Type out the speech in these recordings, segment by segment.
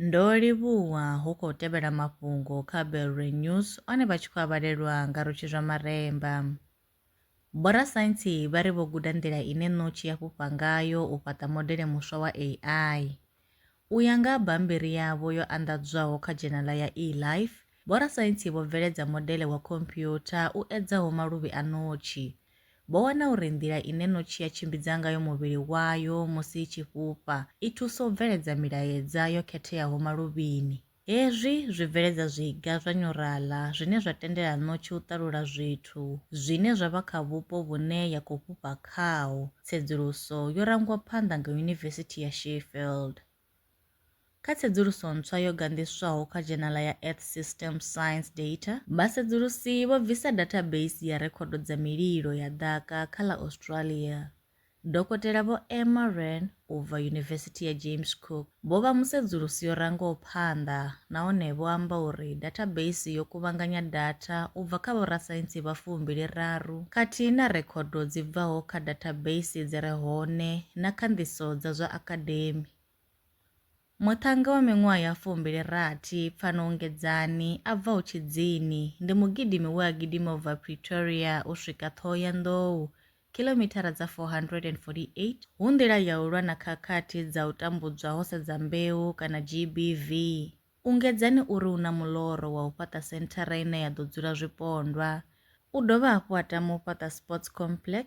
Ndo livhuwa hu khou tevhela mafhungo kha Belre News one vha tshi khou avhalelwa nga Rutshi zwa Maremba. Vhorasaintsi vha ri vho guda nḓila ine ṋotshi ya fhufha ngayo u fhaṱa modele muswa wa AI. U ya nga ha bammbiri yavho yo anḓadzwaho kha dzhenala ya eLife, vhorasaintsi vho bveledza modele wa khompuyutha u edzaho maluvhi a ṋotshi. Vho wana uri nḓila ine ṋotshi ya tshimbidza ngayo muvhili wayo musi i tshi fhufha i thusa u bveledza milaedza yo khetheaho maluvhini. Hezwi zwi bveledza zwiga zwa nyuraḽa zwine zwa tendela ṋotshi u ṱalula zwithu zwine zwa vha kha vhupo vhune ya khou fhufha khaho, tsedzuluso yo rangwa phanḓa nga Yunivesithi ya Sheffield. Kha tsedzuluso ntswa yo ganḓiswaho kha dzhenala ya Earth Systems Science Data, vhasedzulusi vho bvisa dathabeisi ya rekhodo dza mililo ya ḓaka kha ḽa Australia Dokotela Vho Emma Wren u bva Yunivesithi ya James Cook vho vha musedzulusi yo rangaho phanḓa nahone vho amba uri dathabeisi yo kuvhanganya datha u bva kha vhorasaintsi vha fumbili raru khathihi na rekhodo dzi bvaho kha dathabeisi dzi re hone na khanḓiso dza zwa akademi. Muṱhannga wa miṅwaha ya fumbili rathi, Pfano Ngedzani, a bvaho Tshidzini, ndi mugidimi we a gidima u bva Pretoria u swika Thohoyandou, khilomithara dza 448, hu nḓila ya u lwa na khakhathi dza u tambudzwa ho sedza mbeu kana GBV. Ungedzani u ri u na muḽoro wa u fhaṱa senthara ine ya ḓo dzula zwipondwa. U dovha hafhu a tama u fhaṱa sports complex,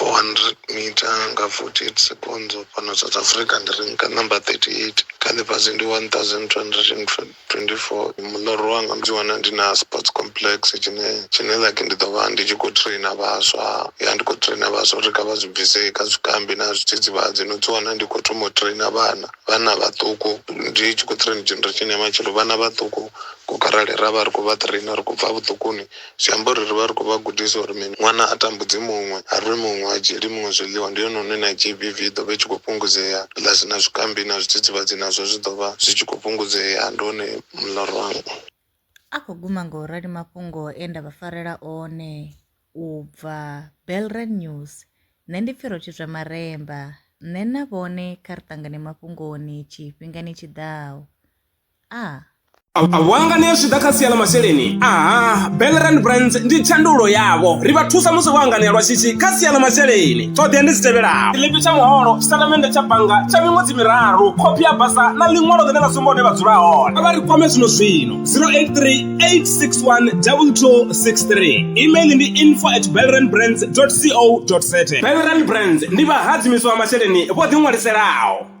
400 mita nga 48 seconds fhano south africa ndi ri nka number 38 kha ḽifhasi ndi 1224 muḽoro wanga ndi wana ndi na sports complex tshine tshine like ndi ḓo vha ndi tshi khou traina vhaswa ya ndi khou traina vhaswa uri kha vha zwi bvise kha zwikambi na zwidzidzivhadzi no dzi wana ndi khou thoma u traina vhana vhana vhaṱuku ndi tshi khou traina generation ya matshelo vhana vhaṱuku ku kharali ra vha ri khou vha traina ri khou bva vhuṱukuni Zwi amba uri ri vha ri khou vha gudisa uri mini? Ṅwana a tambudzi muṅwe, a rwi muṅwe, a dzhieli muṅwe zwiḽiwa. Ndi hone hune na GBV i ḓo vha i tshi khou fhungudzea, ḽa si na zwikambi na zwidzidzivhadzi nazwo zwi ḓo vha zwi tshi khou fhungudzea. Ndi hone muḽoro wanga. A khou guma nga u rali mafhungo e nda vha farela one u bva Belrand News. Nṋe ndi pfi Rotshidzwa Maremba. Nṋe na vhone kha ri ṱangane mafhungoni tshifhingani tshi ḓaho. a Vhuanga ni zwi ḓa kha sia ḽa masheleni aha Belrand Brands ndi tshandulo yavho ri vha thusa musi vho anganea lwa shishi kha sia ḽa masheleni ṱhoḓea ndi dzi tevhelaho tshiḽipi tsha muholo tshitatamennde tsha bannga tsha miṅwedzi miraru khophi ya basa na ḽiṅwalo ḽine ḽa sumba hune vha dzula hone vha ri kwame zwino zwino 0838612263 email ndi info at belrandbrands co za Belrand Brands ndi vhahadzimiswa vha masheleni vho ḓiṅwaliselaho